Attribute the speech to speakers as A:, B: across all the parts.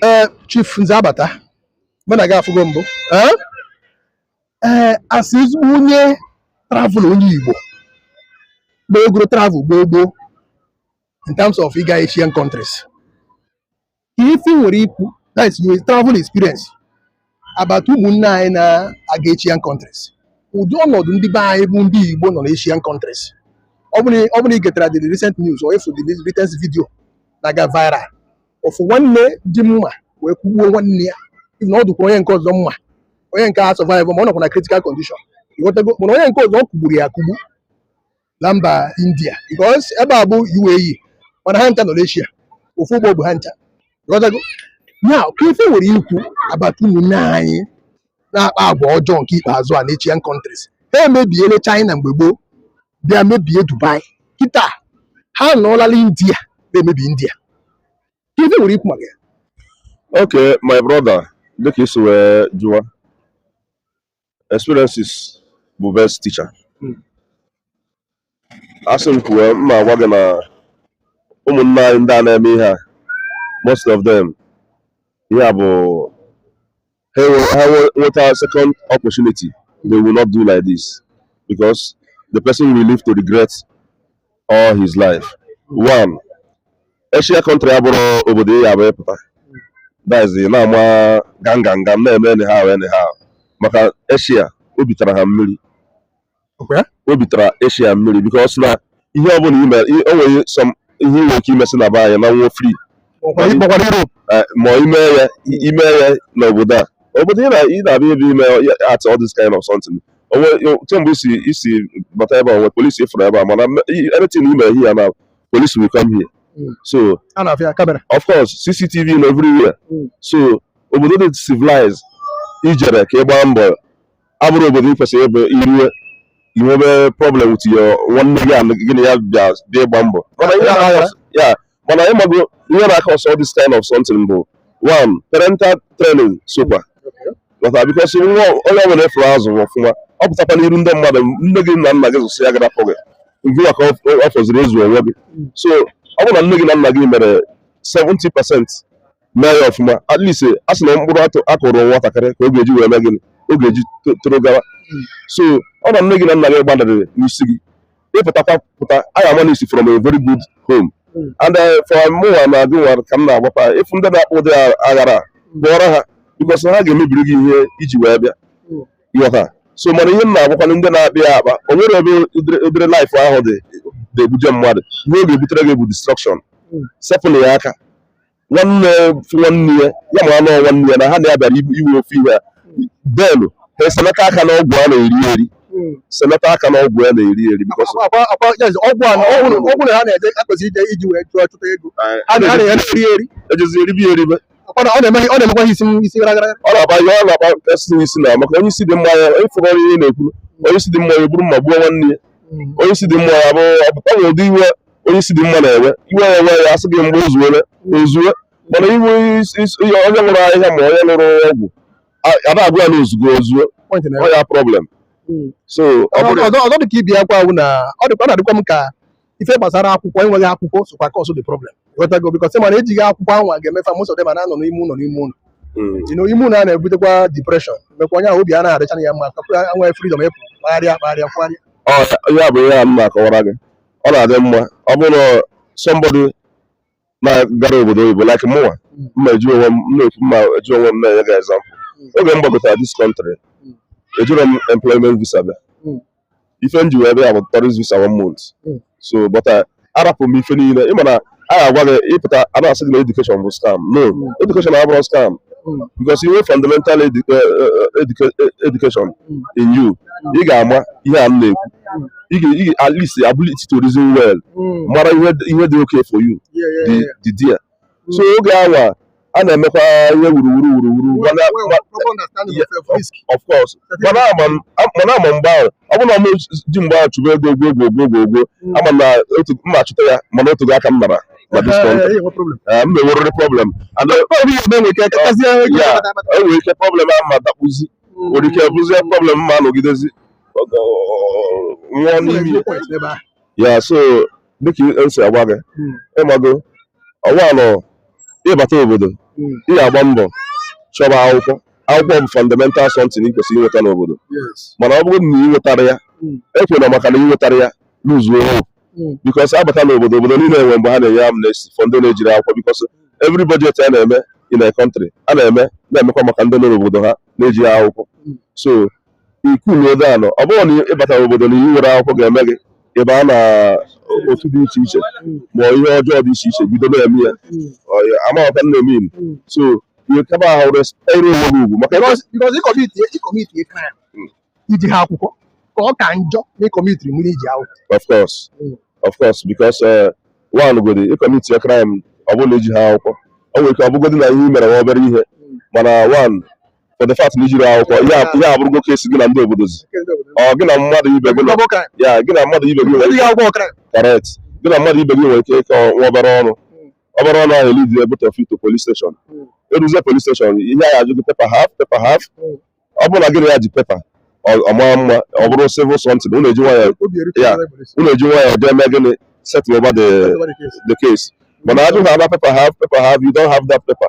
A: ee eh, chief nze abata mụ na gị afụgo mbụ ee eh, eh, as ezigbo onye travel onye igbo gbagoro travel gboo gboo in terms of ịga Asian countries ife ị nwere ikwu that is your travel experience about ụmụnne anyị na-aga Asian countries ụdị ọnọdụ ndị be anyị bụ ndị Igbo nọ na Asian countries ọ bụrụ ị getara the recent news or ị fụ the latest video na-aga viral ofu nwanne ji mma wee kụgbuo nwanne ya even ọ dụkwara onye nke ọzọ mma onye nke a survive ma ọ nọkwa na critical condition ị ghọtago mana onye nke ọzọ ọ kụgburu ya akụgbu na mba india because ebe a bụ UAE mana ha ncha nọ n'Asia ofu ụgbọ bu ha ncha ị ghọtago ya kee ife ị nwere ikwu about ụmụnne anyị na-akpa agwa ọjọọ nke ikpeazụ a n'Asian countries ha emebiele china mgbe gboo bịa mebie dubai kịta ha nọọla na india na-emebi india kee ife ị nwere ikwu maka ya Okay,
B: my brother, dịka i si wee jụa experience bụ best teacher hmm. a sị m kwuwe m ma-agwa gị na ụmụnne anyị ndị a na-eme ihe a most of them ihe bụ ha nweta second opportunity they will not do like this because the person will live to regret all his life one Asia country abụrọ obodo ị ya-abụ ị pụta that is na-ama ganganga na-eme anyhow anyhow maka Asia o bitara ha mmiri o bitara Asia mmiri because na ihe ọbụla i me o nwere ihe i nwere ike imesị na be anyị naa ụnọ free ịkpọkwara Europe eh, ma i me ya i me ya n'obodo a obodo ị na-abịa ebe ime at all this kind of something o nwe kemgbe i si i si bata ebe a o nwe police ị fụrụ ebe a mana anything i mere here na police will come here hmm. so of course cctv nọ everywhere hmm. so obodo dị civilized i jere ka ị gbaa mbọ abụrọ obodo ị kwesịrị ịbụ i rue i nwebe problem with your nwanne gị gị na ya bịa dị ịgba mbọ mana ihe na-akọ ya mana ị mago ihe na-acause all this kind of something bụ one parental training sokwa lọta because nwa onye ọbụla a fụrụ azụ ọfụma ọ pụtakwa n'iru ndị mmadụ nne gị na nna gị zụsịa gharapụ gị ngịwa ka ọ fọziri ịzụ onwe gị so ọ bụrụ na nne gị na nna gị mere 70 percent mee ya ọfụma at least a sị na mkpụrụ atụ a kụrụ nwatakịrị ka ọ ga-eji wee mee gịnị ọ ga-eji to- toro gawa so ọ na nne gị na nna gị gbanịrị n'isi gị ị pụtakwa pụta anyị ama na i si from a very good home Mm. and eh, for mụnwa na gịnwa ka m na-agwakwa ị fụ ndị na-akpa ụdị a- aghara pụọrọ ha because ha ga-emebiri gị ihe i ji wee bịa Mm. ị ghọta so mana ihe m na-agwakwa ndị na-abịa akpa o nwere ebe ụdịrị- ụdịrị life ahụ dị na-ebuje mmadụ ihe ọ ga-ebutere gị bụ destruction Mm. sepụlụ ya aka nwanne nwanne ya ya ma anụ nwanne ya na ha na-abịara iwe ofe ihe a ben ha eselata aka na ọgwụ a na-eri eri hmm. selata aka na ọgwụ a na-eri eri ọgwụ na ha
A: na-eje akpezi ije iji wee chụọ ọtụtụ ego a na-eri eri ejezi
B: eribe eribe
A: ọ na-emekwa isi isi gara gara ọ na-aba ihe ọ
B: na-agbakasị isi na maka onye isi dị mma ya ịfụgọrọ ihe na-ekwuru onye isi dị mma ya eburu mma gbuo nwanne ya hmm. onye isi dị mma ya bụ ọpụta ụdị iwe onye isi dị mma na-ewe iwe ya ewe ya asị gị mgbe o zuwere o zuwe mana iwe onye ṅụrụ ahịhịa ma onye ṅụrụ ọgwụ ada agwa ya na o zugo o zuo ọ ya problem hmm. so ọzọ dị
A: ka ibe yakwa awụ na ọ dịkwa na-adịkwa m ka ife gbasara akwụkwọ enweghị akwụkwọ sokwa cause ụdị problem ghọtago because mana ejighị akwụkwọ ahụ a ga-eme fa most of them na-anọ n'ime ụlọ n'ime ụlọ ino hmm. ime ụlọ a na-ebutekwa depression mekwa onye ahụ obi a na-adịcha ya mma ka nwe freedom ịpụ kpagharịa kpagharịa kpagharịa ya
B: bụ ihe a m na-akọwara gị ọ na-adị mma ọ bụrụ na somebody na-agara obodo oyibo like mụnwa m ma-eji onwe m na-ekwu m ma-eji onwe m na-enye gị example oge m gbagotara this country ejirọ m employment visa bịa ife m ji wee bịa bụ tourist visa one month so but arapụ m ife niile ị ma na a ga-agwa gị ị pụta a na-asị gị na education bụ scam no education abụrọ scam because i nwee fundamental edu- eh, eh, educa- eh, education in you ị ga-ama ihe a m na-ekwu ị ga- ị ga- at least ability to reason well mara ihe ihe dị okay for you dị dị there so oge anwa a na-emekwa ihe wuruwuru wuruwuru of course mana ama mgbe ahụ ọ bụrụ na m ji mgbe ahụ chụba ego ogwo ogwo ogwo ogwo hmm. ama m na m ma-achụta ya mana o teghị aka m nọrọ na this country m ma-enwerịrị problem e nwere ike problem ahụ m adakpuzi hmm. nwere ike bụzie problem m ma-anọgidezi nwụọ n'ime ya so dịka m si agwa gị hmm. ị mago ọ wụ na ị bata obodo hmm. ị ya-agba mbọ chọba akwụkwọ akwụkwọ bụ fundamental something ị kwesịrị inweta n'obodo mana ọ bụrụ na ị nwetarọ ya hmm. ekwena maka na ị nwetarọ ya luzuo hope because abata n'obodo obodo niile enwe mgbe ha na-enye amnesty for ndị na-ejirọ akwụkwọ because every budget a na-eme in a country a na-eme na-emekwa maka ndị nọ n'obodo ha na-ejighị akwụkwọ so ị kuluo down ọ bụrọ na ị batara obodo na ị nwerọ akwụkwọ ga-eme gị ị baa na otu dị iche iche ma ihe ọjọọ dị iche iche bido na-eme ya Ọ ya- amaghọta m na-eme inu. so ihe kaba ahụ respect onwe gị ugwu maka na Because because ịkọmiti
A: ịkọmiti crime i jihọ akwụkwọ ka ọ ka njọ na ịkọmitiri mgbe i ji akwụkwọ. of course Mm.
B: of course because eh, one godi ị kọmitie crime ọ bụrụ na i jihọ akwụkwọ o nwere ike ọ bụgodị na ihe i mere wụ obere ihe mana one for the fact na ijiri akwụkwọ ihe a- ihe abụrụgo case gị na ndị obodozi ọ gị na mmadụ ibe gị nọ- ya gị na mmadụ ibe gị nwere ike quarrel gị na mmadụ ibe gị nwere ike ịkọ nwa obere ọnụ obere ọnụ ahụ elidi ya bute fight o polis steshọn eruzie polis steshọn ihe a ajụ gị pepa haf pepa haf ọ bụrụ na gị na ya ji pepa ọ- ọ mara mma ọ bụrụ civil something unu eji nwayọ ya unu eji nwayọ jee mee gịnị settle over the the case mana ajụ ha na pepa haf pepa haf you don't have that paper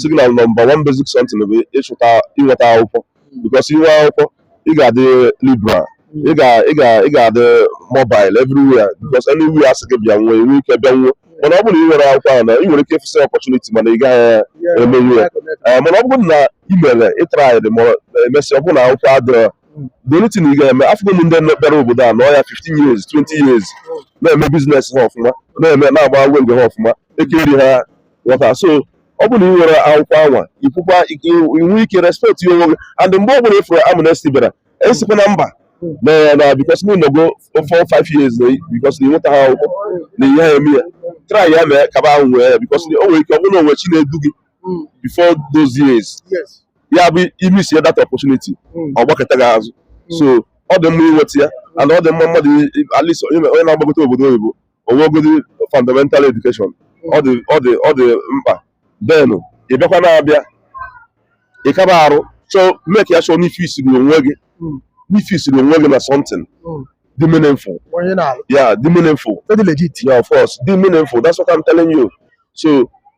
B: sị gị na nọmba one basic something bụ ịchụta inweta akwụkwọ because inwe akwụkwọ ị ga-adị liberal ị ga ị ga ị ga-adị mobile everywhere because anywhere asị gị bịa nwee nwee ike bịanwuo mana ọ bụrụ na ị nwerọ akwụkwọ ahụ na ị nwere ike ịfụsị opportunity mana ị gaghị emenwu ya Eh, mana ọ bụrụ na ị mere ịtraịdị ma emesịa ọ bụrụ na akwụkwọ adịrọ the only thing ị ga-eme afụgo m ndị bịara obodo a nọ ya 15 years 20 years na-eme biznes ha ọfụma na-eme na-agba wenge ha ọfụma ekeri ha ghọta so ọ bụrụ na ị nwere akwụkwọ anwa ịpụkwa inwe ike respect ya onwe gị and mgbe ọ bụla ịfụrụ amnesty bịara esikwa na mba na na because m nọgo four five years na because na ịnweta ha akwụkwọ na ihe ha eme ya try ya mee kaba ahụ nwee ya because o nwere ike ọ bụrụ na o nwe chi na-edu gị before those years ya
A: bụ
B: imisie that opportunity ọ gbakụta gị azụ so ọ dị mma inweta ya and ọ dị mma mmadụ at least onye na-agbagote obodo oyibo onwegodi fundamental education ọ dị ọ dị ọ dị mkpa then ị bịakwa na-abịa ị kaba arụ so make ya sure na ị fixiri onwe gị Mm. na ị fixiri onwe gị na something Mm. dị meaningful onye na-alụ yeah dị meaningful dị legit yeah
A: of course dị
B: meaningful that's what I'm telling you so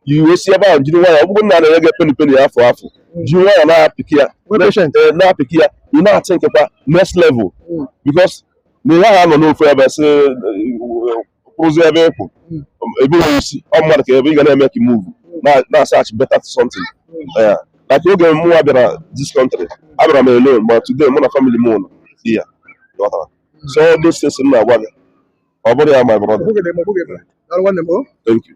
B: you wee si ebe ahụ jiri nwayọ ọ bụrụ na a na-enye gị peni peni afụ afụ jiri nwayọ na-apịkị ya Nwee patient. Eh, na-apịkị ya ị na-atịnkịkwa next level Mm. because na ihe ha nọ n'ofu ebe sị kwụrụzi ebe ịkwụ ebughị isi ọ mmadụ ka ebe ị ga na-emeki muvu na-asach beta something yeah like oge mụnwa bịara this country abịara m alone but today mụ na family m nọ di ya ghọtara so all those things m na-agwa
A: gị
B: ọ bụrụ ya my brother thank you